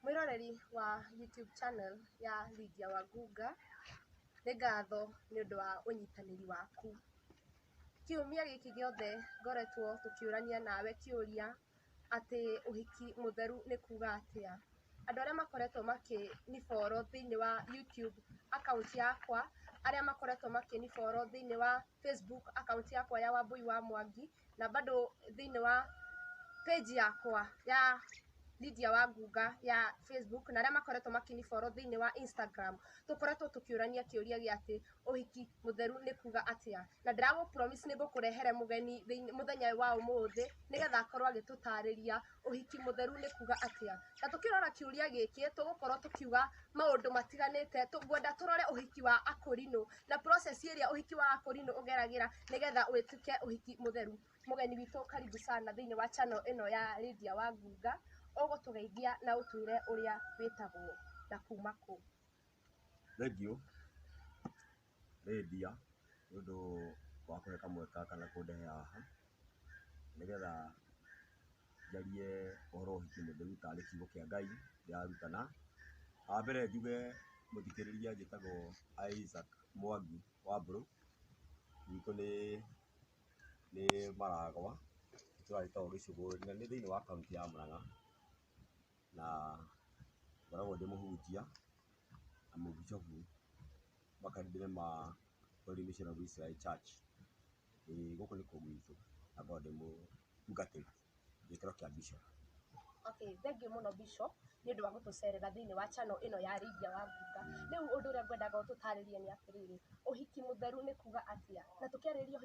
Mwĩroreri wa YouTube channel ya Lydia Wangũnga, nĩ ngatho nĩ ũndũ wa ũnyitanĩri waku. Kiumia gĩkĩ gĩothe ngoretwo tũkĩũrania nawe kĩũria atĩ ũhiki mũtheru nĩ kuuga atĩa. Andũ arĩa makoretwo makĩ ni follow thĩinĩ wa YouTube account yakwa, arĩa makoretwo makĩ ni follow thĩinĩ wa Facebook account yakwa ya Wambũi wa Mwangi, na bado thĩinĩ wa page yakwa ya Lydia Wangunga ya Facebook na arĩa makoretwo makĩni follow thĩinĩ wa Instagram tũkoretwo tũkĩũrania kĩũria gĩa atĩ ũhiki mũtheru nĩ kuga atĩa na ndĩragũ promise nĩ ngũkũrehere mũgeni thĩinĩ mũthenya wa ũmũthĩ nĩgetha akorwo agĩtũtarĩria ũhiki mũtheru nĩ kuga atĩa? Na tũkĩrora kĩũria gĩkĩ tũgũkorwo tũkiuga maũndũ matiganĩte, ngwenda tũrore ũhiki wa akũrinũ na process ĩrĩa ũhiki wa akũrinũ ũgeragĩra nĩgetha ũtuĩke ũhiki mũtheru. Mũgeni witũ karibu sana thĩiniĩ wa channel ĩno ya Lydia wa Ngunga, ũgũtũgeithia na ũtwĩre ũrĩa wĩtagwo na kuma kũ? Thengiũ. nĩndia nĩ ũndũ wa kũhe kamweke gaka na kũndehe haha, nĩgetha njarie ũhoro wa ũhiki nĩ ndĩrutaga nĩ kiugo kĩa Ngai ndĩrarutana. Wa mbere njuge mũthikĩrĩria njĩtagwo Isaac Mwangi Wambũrũ, gwitũ nĩ nĩ Maragwa, itũra rĩtagwo Gĩcũgũri na nĩ thĩiniĩ wa kaũntĩ ya Mũrang'a. na ngoragwo ndĩ mũhunjia na mũbicobu makanitha-inĩ ma Holy Vision of Israel Church, ĩĩ gũkũ nĩkuo gwitũ na ngoragwo ndĩ mũtungatĩri gĩkĩro kĩa bicobu. Okay, thengiũ mũno Bishop nĩ ũndũ wa gũtũcerera thĩinĩ wa channel ĩno ya Lydia Wangunga. Rĩu ũndũ ũrĩa ngwendaga ũtũtarĩrie nĩ atĩrĩrĩ, ũhiki mũtheru nĩ kuuga atĩa? Na tũkĩarĩrĩria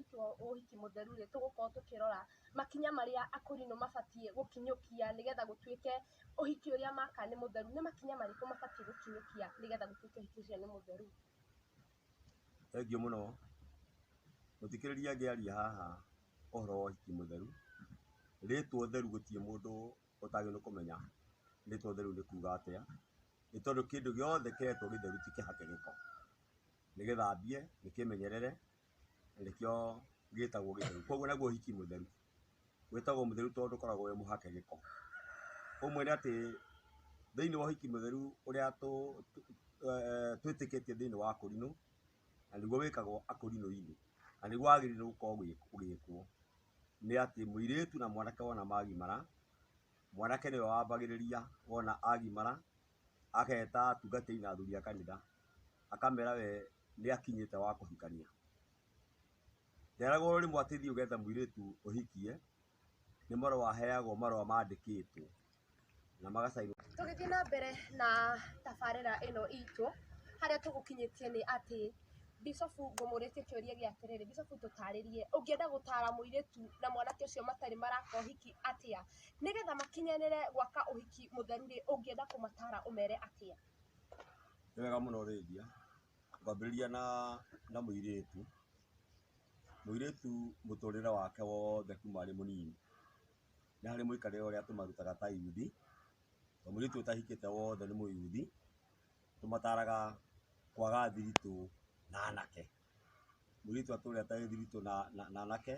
ũhiki mũtheru-rĩ, tũgũkorwo tũkĩrora makinya marĩa akũrinũ mabatiĩ gũkinyũkia nĩgetha gũtuĩke ũhiki ũrĩa maka nĩ mũtheru, nĩ makinya marĩkũ mabatiĩ gũkinyũkia nĩgetha gũtuĩke ũhiki ũcio nĩ mũtheru? Thengiũ mũno, mũthikĩrĩria angĩaria haha ũhoro wa ũhiki mũtheru, rĩtwa ũtheru gũtirĩ mũndũ ũtagĩrĩirwo nĩ kũmenya rĩtwa ũtheru nĩ kuga atĩa, nĩ tondũ kĩndũ gĩothe kĩretwo gĩtheru ti kĩhake gĩko, nĩ gĩthambie, nĩ kĩmenyerere. nĩkĩo gĩtagwo gĩtheru. Koguo naguo ũhiki mũtheru wĩtagwo mũtheru tondũ ndũkoragwo wĩ mũhake gĩko. Ũmwe nĩ atĩ thĩinĩ wa ũhiki mũtheru ũrĩa twĩtĩkĩtie thĩinĩ wa akũrinũ, na nĩguo wĩkagwo akũrinũ-inĩ, na nĩguo wagĩrĩirwo gũkorwo ũgĩkwo, nĩ atĩ mũirĩtu na mwanake wona magimara, mwanake nĩwe wambagĩrĩria wona agimara. ageta atungatĩri na athuri a kanitha, akamera we nĩ akinyĩte wa kũhikania. Nderagwo rĩmwe atĩ thiĩ ũgethe mũirĩtu ũhikie, nĩ marũa aheagwo marũa mandĩkĩtwo na maga sign. Tũgĩthiĩ na mbere na tabarĩra ĩno itũ, harĩa tũgũkinyĩtie nĩ atĩ Mbicobu ngũmũrĩtie kĩũria gĩa atĩrĩrĩ, Mbicobu tũtarĩrie, ũngĩenda gũtara mũirĩtu na mwanake ũcio matarĩ maraka ũhiki atĩa? Nĩgetha makinyanĩre gwaka ũhiki mũtheru rĩ, ũngĩenda kũmatara ũmere atĩa? Nĩ wega mũno ũrĩthia, ngwambĩrĩria na na mũirĩtu, mũirĩtu mũtũrĩre wake wothe kuma arĩ mũnini, nĩ harĩ mũikarĩre ũrĩa tũmarutaga ta yuthi, tondũ mũirĩtu ũtahikĩte wothe nĩ mũyuthi, Tũmataraga kwaga thiritũ na anake. Mũirĩtu atũre atarĩ thiritũ na na anake,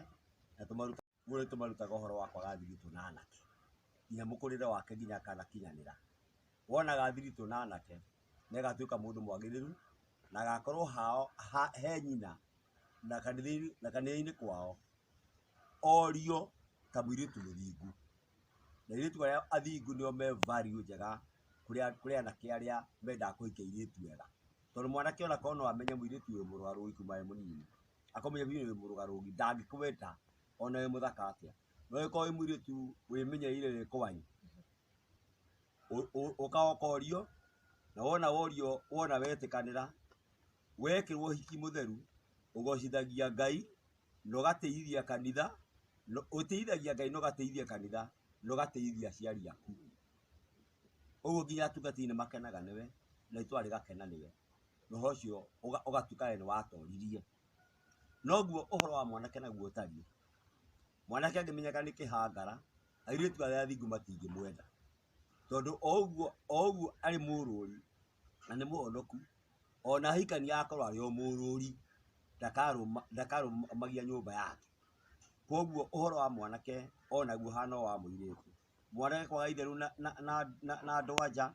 na tũmarutaga ũguo nĩtũmarutaga ũhoro wa kwaga thiritũ na anake, kinya mũkũrĩre wake kinya akanakinyanĩra. Wonaga thiritũ na anake, nĩagatuĩka mũndũ mwagĩrĩru, na agakorwo hao ha he nyina, na kanitha-inĩ na kanitha-inĩ kwao, orio ta mũirĩtu mũthingu. na airĩtu arĩa athingu nĩo me value njega kũrĩ anake arĩa mendaga kũhikia airĩtu ega. Tondũ mwanake ona korwo no amenye mũirĩtu wĩ mũrũaru wĩ kuma e mũnini, akamenya mũirĩtu ũyũ wĩ mũrũaru ũguo ndangĩkwenda ona wĩ mũthaka atĩa. No angĩkorwo wĩ mũirĩtu wĩmenyereire wĩ kwĩ, ũkaga ũkorio na wona worio wona wetĩkanĩra, wekĩrwo ũhiki mũtheru ũgocithagia Ngai na ũgateithia kanitha, na ũteithagia Ngai na ũgateithia kanitha, na ũgateithia aciari aku. Ũguo nginya atungatĩri nĩmakenaga nĩwe, na itũũra rĩgakena nĩwe, na ũhoro ũcio ũgatuĩka wee nĩwatooririe. Noguo ũhoro wa mwanake naguo ũtariĩ. Mwanake angĩmenyeka nĩ kĩhangara, airĩtu arĩa athingu matingĩmwenda, tondũ o ũguo o ũguo arĩ mũrũri, na nĩ mũhonoku, ona ahikania akorwo arĩ o mũrũri, ndakarũma ndakarũmagia nyũmba yake. Koguo ũhoro wa mwanake onaguo ũhana o wa mũirĩtu. Mwanake kwaga itherũ na na na na na andũ-a-nja,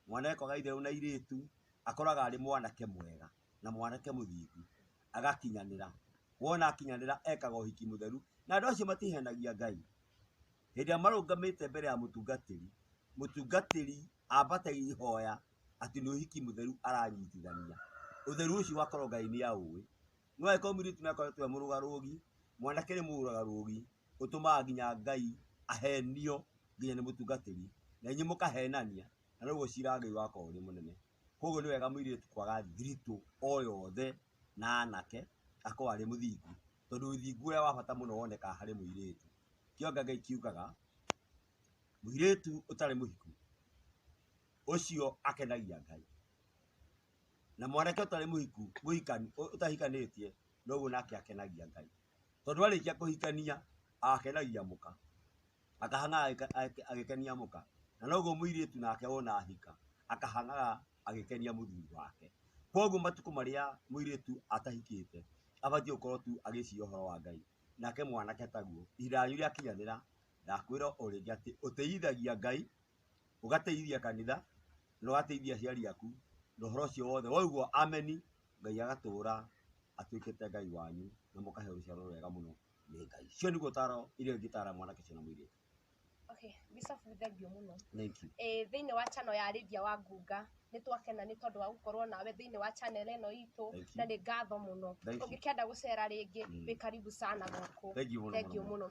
mwanake kwaga itherũ na airĩtu, akoraga arĩ mwanake mwega, na mwanake mũthingu, agakinyanĩra. Wona akinyanĩra ekaga ũhiki mũtheru, na andũ acio matihenagia Ngai. Hĩndĩ ĩrĩa marũgamĩte mbere ya mũtungatĩri, mũtungatĩri ambate ihoya atĩ nĩ ũhiki mũtheru aranyitithania. Ũtheru ũcio ũgakorwo Ngai nĩ aũĩ. No angĩkorwo mũirĩtu nĩ akoretwo e mũrũgarũgi, mwanake nĩ mũrũgarũgi, ũtũmaga nginya Ngai ahenio nginya nĩ mũtungatĩri, na inyuĩ mũkahenania, na noguo cira wa Ngai ũgakorwo ũrĩ mũnene. Kũguo nĩ wega mũirĩtu kwaga thiritũ o yothe na anake, akorwo arĩ mũthingu. Tondũ ũthingu ũrĩa wa bata mũno wonekaga harĩ mũirĩtu. Kĩo Ngai kiugaga, Mũirĩtu ũtarĩ mũhiku ũcio akenagia Ngai, na mwanake ũtarĩ mũhiku ũtahikanĩtie noguo nake akenagia Ngai, tondũ arĩkia kũhikania akenagia mũka, akahangaga agĩkenia mũka, na noguo mũirĩtu nake wona ahika akahangaga agĩkenia mũthuri wake. Koguo matukũ marĩa mũirĩtu atahikĩte abatiĩ gũkorwo tu agĩciria ũhoro wa Ngai, nake mwanake taguo, ihinda rĩanyu rĩakinyanĩra Ndakwĩra o rĩngĩ atĩ ũtĩithagia Ngai, ũgatĩithia kanitha, na ũgatĩithia aciari aku, na ũhoro ũcio wothe waugwo ameni, Ngai agatũũra atuĩkĩte Ngai wanyu, na mũkahe rũciaro rwega mũno nĩ Ngai. Ũcio nĩguo ũtaaro iria ingĩtaara mwanake ũcio na mũirĩtu. Okay, Bishop nĩ thengiũ mũno. Thank you. Eh, thĩinĩ wa channel ya Lydia wa Ngunga nĩ twakena nĩ tondũ wa gũkorwo nawe thĩinĩ wa channel ĩno itũ Thank you. na nĩ ngatho mũno. Thank you. Ũngĩkenda gũcera rĩngĩ Mm. wĩ karibu sana gũkũ. Thank you mũno Thengiũ mũno. mũno.